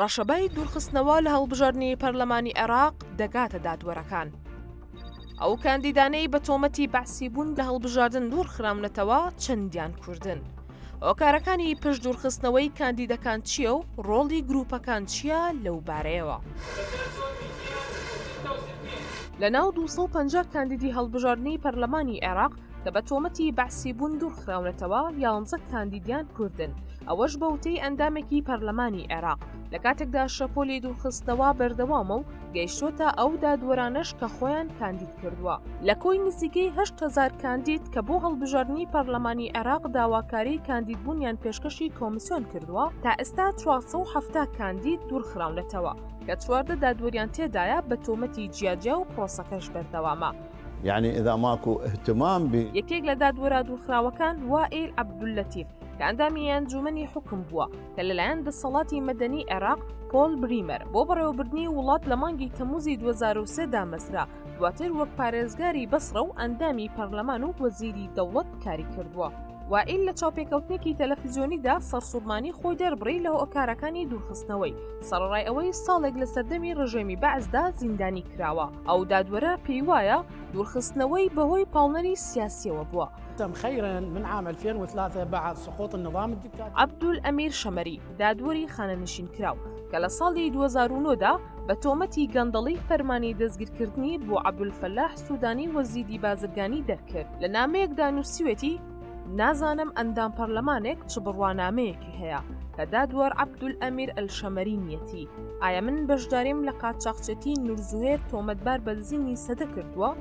ڕەشەبای دوورخستنەوە لە هەڵبژاردنی پەرلەمانی عێراق دەگاتە دادوەرەکان. ئەو کاندیدانەی بە تۆمەتی بەعسی بوون لە هەڵبژاردن دوورخراونەتەوە چەندیان کوردن. هۆکارەکانی پشت دوورخستنەوەی کاندیدەکان چییە و ڕۆڵی گروپەکان چییە لەو بارەیەوە. لە ناو 250 کاندیدی هەڵبژاردنی پەرلەمانی عێراق کە بە تۆمەتی بەعسی بوون دوورخراونەتەوە یانزە کاندیدیان کوردن ئەوەش بە وتەی ئەندامێکی پەرلەمانی عێراق لە کاتێکدا شەپۆلی دوورخستنەوە بەردەوامە و گەیشتۆتە ئەو دادوەرانەش کە خۆیان کاندید کردووە لە کۆی نزیکەی هزار کاندید کە بۆ هەڵبژاردننی پەرلەمانی عێراق داواکاری کاندیدبوونیان پێشکەشی کۆمسیۆن کردووە تا ئێستا 470 کاندید دوورخراونەتەوە کە چواردە دادوەریان تێدایە بە تۆمەتی جیاجیا و پرۆسەکەش بەردەوامە. یەعنی ئیدا ماکو ئیهتمام بی. یەکێک لە دادوەرە دوورخراوەکان وائیل عەبدوللەتیف کە ئەندامی ئەنجوومەنی حوکم بووە کە لەلایەن دەسەڵاتی مەدەنیی عێراق، پۆل بریمەر، بۆ بەڕێوەبردنی وڵات لە مانگی تەمووزی دوو هەزار و سێ دامەزرا، دواتر وەک پارێزگاری بەسڕە و ئەندامی پەرلەمان و وەزیری دەوڵەت کاری کردووە. وائیل لە چاوپێکەوتنێکی تەلەفزیۆنیدا سەرسوڕمانی خۆی دەربڕی لە هۆکارەکانی دوورخستنەوەی، سەڕەڕای ئەوەی ساڵێک لە سەردەمی ڕژێمی بەعسدا زیندانی کراوە. ئەو دادوەرە پێیوایە دوورخستنەوەی بەهۆی پاڵنەری سیاسیەوە بووە. عبدول ئەمیر شەمەری دادوەری خانەنشین کراو کە لە ساڵی 2009دا بە تۆمەتی گەندەڵی فەرمانی دەستگیرکردنی بۆ عبدول فەلاح سوودانی وەزیدی بازرگانی دەرکرد لە نامەیەکدا نووسیوێتی نازانم ئەندام پەرلەمانێک چ بڕوانامەیەکی هەیە کە دادوەر عەبدول ئەمیر ئەلشەمەرینیەتی ئایا من بەشداریم لە قاچاقچێتی نورزوهێر تۆمەتبار بە دزینی سەدە کردووە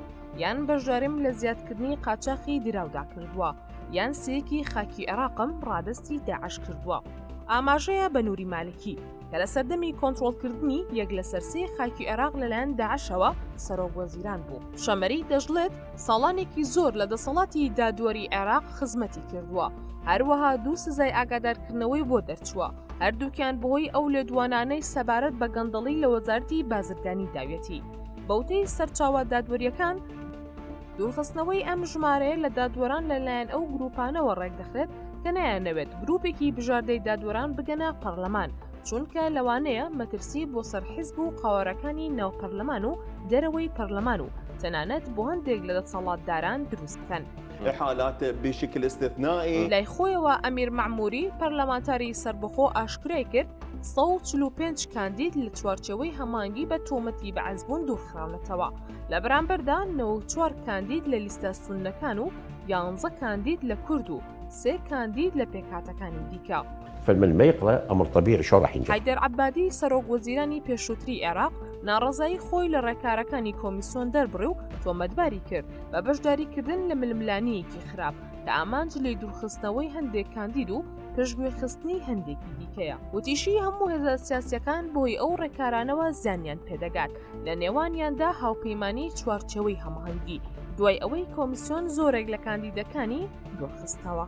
یان بەشداریم لە زیادکردنی قاچاقی دراودا کردووە یان سەیەکی خاکی عێراقم ڕادستی داعش کردووە ئاماژەیە بە نووری مالکی کە لە سەردەمی کۆنتترۆلکردنی یەک لە سەرسی خاکی عێراق لەلایەن داعشەوە سەرۆک وەزیران بوو شەمەری دەشڵێت ساڵانێکی زۆر لە دەسەڵاتی دادوەری عێراق خزمەتی کردووە هەروەها دوو سزای ئاگادارکردنەوەی بۆ دەرچووە هەردووکیان بەهۆی ئەو لێدوانانەی سەبارەت بە گەندەڵی لە وەزارتی بازرگانی داوێتی بەوتەی سەرچاوە دادوەریەکان دوورخستنەوەی ئەم ژمارەیە لە دادوەران لەلایەن ئەو گروپانەوە ڕێکدەخرێت کە نایانەوێت گروپێکی بژاردەی دادوەران بگەنە پەرلەمان چونکە لەوانەیە مەترسی بۆ سەر حزب و قاوارەکانی ناو پەرلەمان و دەرەوەی پەرلەمان و تەنانەت بۆ هەندێک لە دەسەڵاتداران دروست بکەن. لای خۆیەوە ئەمیر مەعموری پەرلەمانتاری سەربەخۆ ئاشکرای کرد، ١٤٥ کاندید لە چوارچێوەی هەمانگی بە تۆمەتی بەعسبوون دوورخراونەتەوە. لە بەرامبەردا نە و چوار کاندید لە لیستە سونەکان و یانزە کاندید لە کورد و سێ کاندید لە پێکهاتەکانی دیکە. فالم الميقلة امر طبيعي شلون راح ينجح؟ حیدەر عەبادی سەرۆک وەزیرانی پێشووتری عێراق ناڕەزایی خۆی لە ڕێکارەکانی کۆمیسۆن دەربڕی و تۆمەتباری کرد بە بەشداریکردن لە ململانییەکی خراپ کە ئامانج لێی دوورخستنەوەی هەندێک کاندید و پشتگوێخستنی هەندێکی دیکەیە وتیشی هەموو هێزە سیاسییەکان بەهۆی ئەو ڕێکارانەوە زیانیان پێدەگات لە نێوانیاندا هاوپەیمانی چوارچەوەی هەماهەنگی دوای ئەوەی کۆمیسیۆن زۆرێک لە کاندیدەکانی دۆخستەوە.